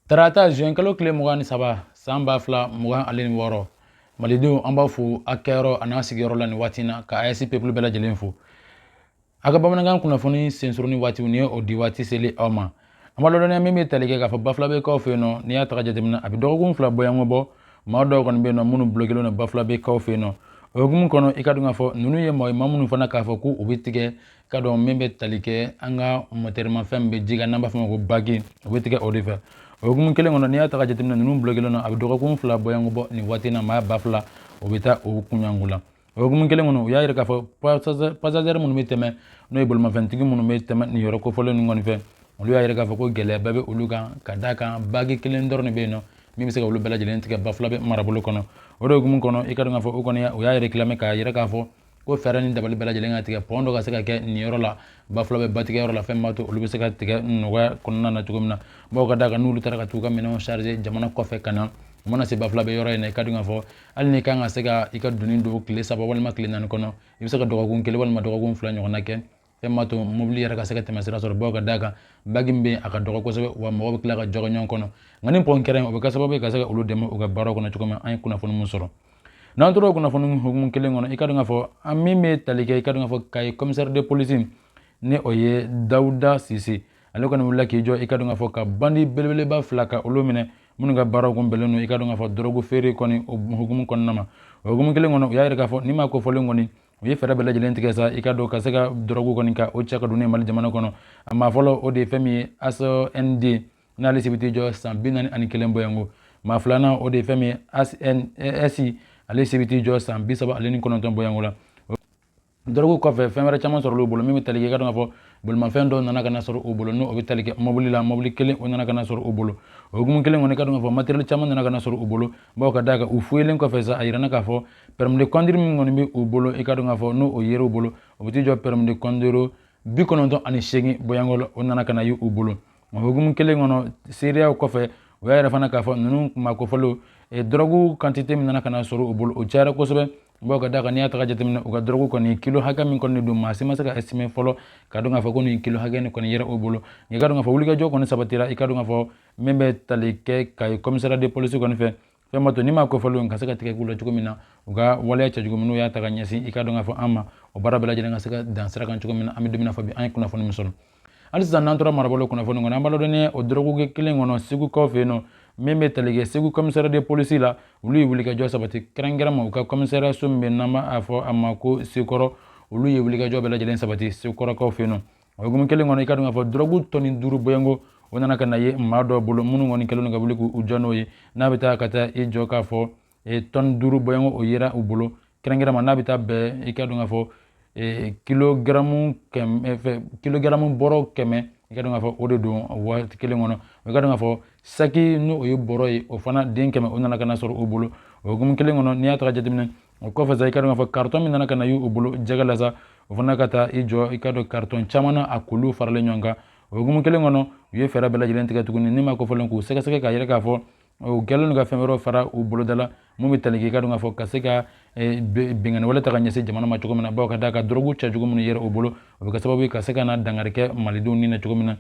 Tarata zuwɛnkalo tile mugan ni saba san ba fila mugan ani wɔɔrɔ malidenw an b'a fo a kɛyɔrɔ an'a sigiyɔrɔ la nin waati na ka ayisi peplu bɛɛ lajɛlen fo a ka bamanankan kunnafoni sensuruni waati ni ye o di waati seli aw ma an ma lɔdɔnya min bɛ tali kɛ k'a fɔ Bafulabɛkaw fɛ yen nɔ n'i y'a ta ka jateminɛ a bɛ dɔgɔkun fila bɔɲɔgɔnko bɔ maa dɔw kɔni bɛ yen nɔ minnu blokelen na Bafulabɛkaw fɛ yen nɔ o hukumu kɔnɔ i ka dɔn k'a fɔ ninnu ye maa ma minnu fana k'a fɔ ko u bɛ tigɛ ka dɔn min bɛ tali kɛ an ka mɔtɛrimafɛn min bɛ ji kan n'an b'a fɔ o ma ko baki o bɛ tigɛ o de fɛ o hukumu kelen kɔnɔ n'i y'a ta ka jateminɛ ninnu blokelen na a bɛ dɔgɔkun fila bɔɲɔgɔnko bɔ nin waati na maa ba fila o bɛ taa o kunyanko la o hukumu kelen kɔnɔ u y'a yira k'a fɔ pasazɛri minnu bɛ tɛmɛ n'o ye bolimafɛntigi minnu bɛ tɛmɛ nin yɔrɔ kofɔlen ninnu kɔni fɛ olu y'a yira k'a fɔ ko gɛlɛyaba bɛ olu kan ka d'a kan baki kelen dɔrɔn de bɛ yen nɔ min bɛ se ka olu bɛɛ lajɛlen tigɛ Bafulabɛ marabolo kɔnɔ o de hukumu kɔnɔ i ka dɔn k'a fɔ o kɔni o y'a yira tilame k'a yira k'a fɔ ko fɛɛrɛ ni dabali bɛɛ lajɛlen ka tigɛ pɔn dɔ ka se ka kɛ nin yɔrɔ la Bafulabɛ batigɛyɔrɔ la fɛn b'a to olu bɛ se ka tigɛ nɔgɔya kɔnɔna na cogo min na bawo ka d'a kan n'olu taara ka t'u ka minɛnw chargé jamana kɔfɛ ka na u mana se Bafulabɛ yɔrɔ in na i ka dɔn k'a fɔ hali n'i kan ka se ka i ka doni don tile saba walima tile naani kɔnɔ i bɛ se ka dɔgɔkun kelen walima dɔgɔkun fila ɲɔgɔnna kɛ fɛn b'a to mobili yɛrɛ ka se ka tɛmɛ sira sɔrɔ bawo ka d'a kan baki min bɛ a ka dɔgɔ kosɛbɛ wa mɔgɔ bɛ tila ka jɔ ka ɲɔgɔn kɔnɔ nka ni pɔn kɛra o bɛ kɛ sababu ye ka se ka olu dɛmɛ u ka baaraw kɔnɔ cogo min an ye kunnafoni min sɔrɔ n'an tora o kunnafoni hukumu kelen kɔnɔ i ka dɔn k'a fɔ an min bɛ tali kɛ i ka dɔn k'a fɔ kayi commissaire de police ni o ye dawuda sise ale kɔni wulila k'i jɔ i ka dɔn k'a fɔ ka bandi belebeleba fila ka olu minɛ minnu ka baaraw tun bɛnnen don i ka dɔn k'a fɔ dɔrɔgu feere kɔni o hukumu kɔnɔna ma o hukumu kelen kɔnɔ u y'a yira k'a fɔ nin maa kofɔlen kɔni u ye fɛɛrɛ bɛɛ lajɛlen tigɛ sa i ka dɔn ka se ka dɔrɔgu kɔni ka o cɛ ka don ne mali jamana kɔnɔ a maa fɔlɔ o de ye fɛn min ye asnd n'ale si bɛ t'i jɔ san bi naani ani kelen bɔɲɔgɔnko maa filanan o de ye fɛn min ye asnsi ale si bɛ t'i jɔ san bi saba ale ni kɔnɔntɔn bɔɲɔgɔnko la dɔrɔgu kɔfɛ fɛn wɛrɛ caman sɔrɔ olu bolo min bɛ tali kɛ i ka dɔn k'a fɔ bolimafɛn dɔw nana ka na sɔrɔ o bolo n'o o bɛ tali kɛ mɔbili la mɔbili kelen o nana ka na sɔrɔ o bolo o hukumu kelen kɔnɔ i ka dɔn k'a fɔ materiyɛli caman nana ka na sɔrɔ o bolo bawo ka d'a kan u fuyelen kɔfɛ sa a yirana k'a fɔ permis de conduire min kɔni bɛ u bolo i ka dɔn k'a fɔ n'o o yer'u bolo o bɛ t'i jɔ permis de conduire bi kɔnɔntɔn ani seegin bɔɲɔgɔnko la o nana ka na ye u bolo o hukumu kelen kɔnɔ seereyaw kɔfɛ u y'a yira fana k'a fɔ ninnu kuma kofɔlenw eh, dɔrɔgu kantite min nana ka na sɔrɔ u bolo o cayara kosɛbɛ bawo ka d'a kan n'i y'a ta ka jateminɛ u ka dɔrɔgu kɔni kilo hakɛ min kɔni don maa si ma se ka estimɛ fɔlɔ ka dɔn k'a fɔ ko nin kilo hakɛ nin kɔni yera o bolo nka i ka dɔn k'a fɔ wulikajɔ kɔni sabatira i ka dɔn k'a fɔ min bɛ tali kɛ kayi commissariat de police kɔni fɛ fɛn b'a to nin maa kofɔlenw in ka se ka tigɛ k'u la cogo min na u ka waleya cɛ cogo min n'u y'a ta ka ɲɛsin i ka dɔn k'a fɔ an ma o baara bɛɛ lajɛlen ka se ka dan sira kan cogo min na an bɛ don min na fɔ bi an ye kunnafoni min sɔrɔ hali sisan n'an tora marabolo kunnafoni kɔnɔ an b'a dɔn ni o dɔrɔguko kelen kɔnɔ segukaw fɛ yen nɔ min bɛ tali kɛ segu commissariat de police la olu ye wulikajɔ sabati kɛrɛnkɛrɛn ma u ka kɔmisɛriya so min bɛ n'an b'a fɔ a ma ko sekɔrɔ olu ye wulikajɔ bɛɛ lajɛlen sabati sekɔrɔkaw fɛ yen nɔ o hukumu kelen kɔnɔ i ka dɔn k'a fɔ dɔrɔgu tɔni duuru bɔɲɔgɔnko o nana ka na ye maa dɔ bolo minnu kɔni kɛlen don ka wuli k'u jɔ n'o ye n'a bɛ taa ka taa i jɔ k'a fɔ tɔni duuru bɔɲɔgɔnko o yera u bolo kɛrɛnkɛrɛnma n'a bɛ taa bɛn i ka dɔn k'a fɔ kilogaramu kɛmɛ kilogaramu bɔrɔ kɛmɛ i ka dɔn k'a fɔ o de don waati kelen kɔnɔ i ka dɔn k'a fɔ saki n'o ye bɔrɔ ye o fana den kɛmɛ o nana ka na sɔrɔ o bolo o hukumu kelen kɔnɔ n'i y'a ta ka jateminɛ o kɔfɛ sa i ka dɔn k'a fɔ karitɔn min nana ka na y'u bolo jɛgɛ la sa o fana ka taa i jɔ i ka dɔn karitɔn caman na a k'olu faralen ɲɔgɔn kan o hukumu kelen kɔnɔ u ye fɛɛrɛ bɛɛ lajɛlen tigɛ tuguni nin maa kofɔlen k'u sɛgɛsɛgɛ k'a yira k'a fɔ u kɛlen don ka fɛn wɛrɛw fara u boloda la min bɛ tali k'i ka dɔn k'a fɔ ka se ka eh, binkanni wale ta ka ɲɛsin jamana ma cogo min na bawo ka d'a kan dɔrɔgu cɛjugu minnu yera u bolo o bɛ kɛ sababu ye ka se ka na dankari kɛ malidenw ni na cogo min na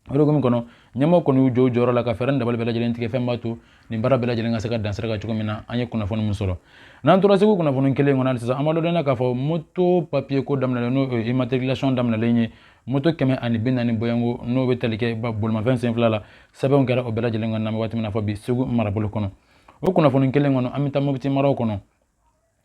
O hukumu kɔnɔ ɲɛmɔgɔ kɔni y'u jɔ jɔyɔrɔ la ka fɛɛrɛ dabali bɛɛ lajɛlen tigɛ fɛn b'a to nin baara bɛɛ lajɛlen ka se ka dan sira kan cogo min na an ye kunnafoni min sɔrɔ n'an tora segu kunnafoni kelen kɔnɔ sisan an b'a dɔn k'a fɔ moto papiye ko daminɛlen n'o ye immatriculation daminɛlen ye moto kɛmɛ ani bi naani bɔɲɔgɔnko n'o bɛ tali kɛ bolimafɛn sen fila la sɛbɛnw kɛra o bɛɛ lajɛlen ka na waati min na fɔ bi segu marabolo kɔnɔ o kunnafoni kelen kɔnɔ an bɛ taa mopti mara kɔnɔ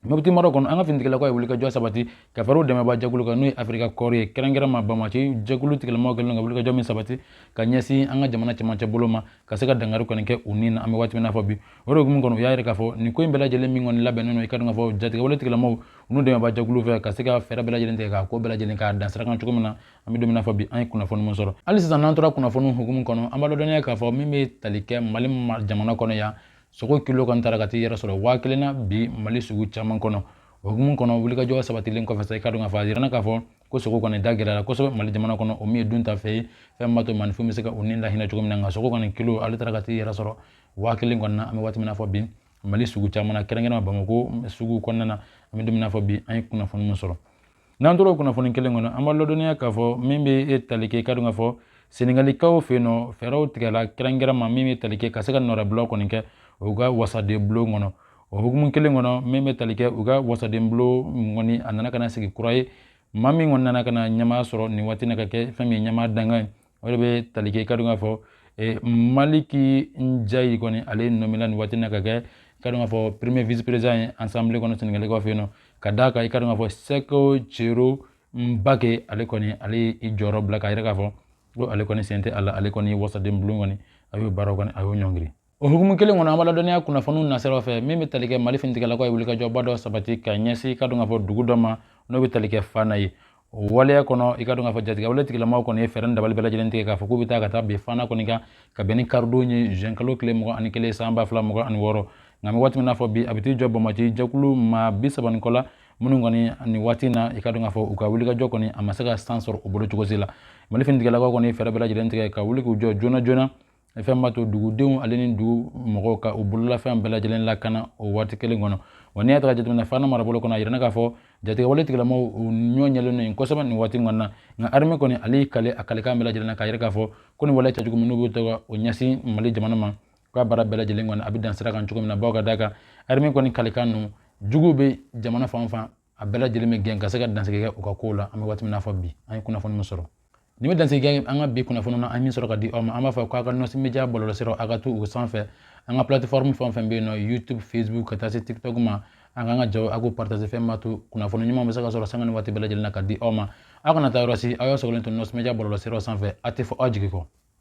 mopti mara kɔnɔ an ka finitigilakaw ye wulikajɔ sabati ka fara u dɛmɛba jɛkulu kan n'o ye afirika kɔɔri ye kɛrɛnkɛrɛnma banbaanci jɛkulu tigilamaw kɛlen ka wulikajɔ min sabati ka ɲɛsin an ka jamana cɛmancɛ bolo ma ka se ka dankari kɔni kɛ u ni na an bɛ waati min na fɔ bi o de hukumu kɔnɔ u y'a yira k'a fɔ nin ko in bɛɛ lajɛlen min kɔni labɛnnen don i ka dɔn k'a fɔ jatigɛwale tigilamaw u n'u dɛmɛba jɛkulu fɛ ka se ka fɛɛrɛ bɛɛ lajɛlen tigɛ k'a ko bɛɛ lajɛlen k'a dan sira kan cogo min na an bɛ don min na fɔ bi an ye kunnafoni min sɔrɔ hali sisan n'an tora kunnafoniw hukumu kɔnɔ an b'a lɔdɔnniya k'a fɔ min bɛ tali kɛ mali jamana kɔnɔ yan sogo kilo kɔni taara ka t'i yɛrɛ sɔrɔ waa kelen na bi mali sugu caman kɔnɔ o hukumu kɔnɔ wulikajɔ sabatilen kɔfɛ sa i ka dɔn k'a fɔ a jirana k'a fɔ ko sogo kɔni da gɛlɛyara kosɛbɛ mali jamana kɔnɔ o min ye duntafɛn ye fɛn b'a to maaninfin bɛ se ka o ni lahinɛ cogo min na nka sogo kɔni kilo ale taara ka t'i yɛrɛ sɔrɔ waa kelen kɔni na an bɛ waati min na fɔ bi mali sugu caman na kɛrɛnkɛrɛnma bamako sugu kɔnɔna na an bɛ don min na fɔ bi an ye kunnafoni min sɔrɔ n'an tora kunnafoni kelen kɔnɔ an b'a ladɔnniya k'a fɔ min bɛ e tali kɛ i ka dɔn k'a fɔ senegalikaw fɛ yen nɔ fɛɛrɛw tigɛla kɛrɛnkɛrɛnma min bɛ tali kɛ ka se ka nɔrabila kɔni kɛ u ka wasaden bulon kɔnɔ o hukumu kelen kɔnɔ min bɛ tali kɛ u ka wasaden bulon kɔni a nana ka na sigi kura ye maa min kɔni nana ka na ɲɛmaa sɔrɔ nin waati na ka kɛ fɛn min ye ɲɛmaa dankan ye o de bɛ tali kɛ i ka dɔn k'a fɔ maliki njayi kɔni ale nɔmena nin waati na ka kɛ i ka dɔn k'a fɔ premier vice président ye assemblée kɔnɔ sɛnɛgalikaw fɛ yen nɔ ka d'a kan i ka dɔn k'a fɔ seko cero mbake ale kɔni ale ye i jɔyɔrɔ bila k'a yira k'a fɔ ko ale kɔni sen tɛ a la ale kɔni ye wasaden bulon kɔni a y'o baaraw kɔni a y'o ɲɔngiri o hukumu kelen kɔnɔ an b'a ladɔnniya kunnafoniw nasiraw fɛ min bɛ tali kɛ mali finitigɛlakaw ye wulikajɔba dɔ sabati ka ɲɛsin i ka dɔn k'a fɔ dugu dɔ ma n'o bɛ tali kɛ fana ye o waleya kɔnɔ i ka dɔn k'a fɔ jatigɛwale tigilamaw kɔni ye fɛɛrɛ ni dabali bɛɛ lajɛlen tigɛ k'a fɔ k'u bɛ taa ka taa bin fana kɔni kan ka bɛn ni karidon ye zɛn kalo tile mugan ani kelen san ba fila mugan ani wɔɔrɔ nka an bɛ waati min na fɔ bi a bɛ t'i jɔ banbaanci jɛkulu maa bi saba ni kɔ la minnu kɔni nin waati in na i ka dɔn k'a fɔ u ka wulikajɔ kɔni a ma se ka san sɔrɔ u bolo cogo si la mali finitigɛlakaw kɔni fɛɛrɛ bɛɛ lajɛlen tigɛ ka wuli k'u jɔ joona joona fɛn b'a to dugudenw ale ni dugu mɔgɔw ka u bololafɛn bɛɛ lajɛlen lakana o waati kelen kɔnɔ wa n'i y'a ta ka jateminɛ fana marabolo kɔnɔ a yirana k'a fɔ jatigɛwale tigilamɔgɔw u ɲɔ ɲɛlen don kosɛbɛ nin waati kɔnɔ na nka arime kɔni ale y'i kale a kalekan bɛɛ lajɛlen na k'a yira k'a fɔ ko nin wale cɛjugu min n'u bɛ to ka o ɲɛsin mali jamana ma k'a baara bɛɛ lajɛlen kɔni a bɛ dan sira kan cogo min na bawo ka d'a kan arime kɔni kalekan ninnu juguw bɛ jamana fan fan a bɛɛ lajɛlen bɛ gɛn ka se ka dansigi kɛ u ka kow la an bɛ waati min na fɔ bi an ye kunnafoni min sɔrɔ nin bɛ dansigi kɛ an ka bi kunnafoni na an ye min sɔrɔ ka di aw ma an b'a fɔ k'a ka nɔsi media bɔlɔlɔsiraw a ka to u sanfɛ an ka plateforme fɛn o fɛn bɛ yen n'o youtube facebook ka taa se tiktok ma a k'an ka jaw a k'u partage fɛn b'a to kunnafoni ɲuman bɛ se ka sɔrɔ sanga ni waati bɛɛ lajɛlen na ka di aw ma aw kana taa yɔrɔ si aw y'a sɔgɔlen to nɔsi media bɔlɔlɔsiraw sanfɛ a tɛ fɔ aw jigi kɔ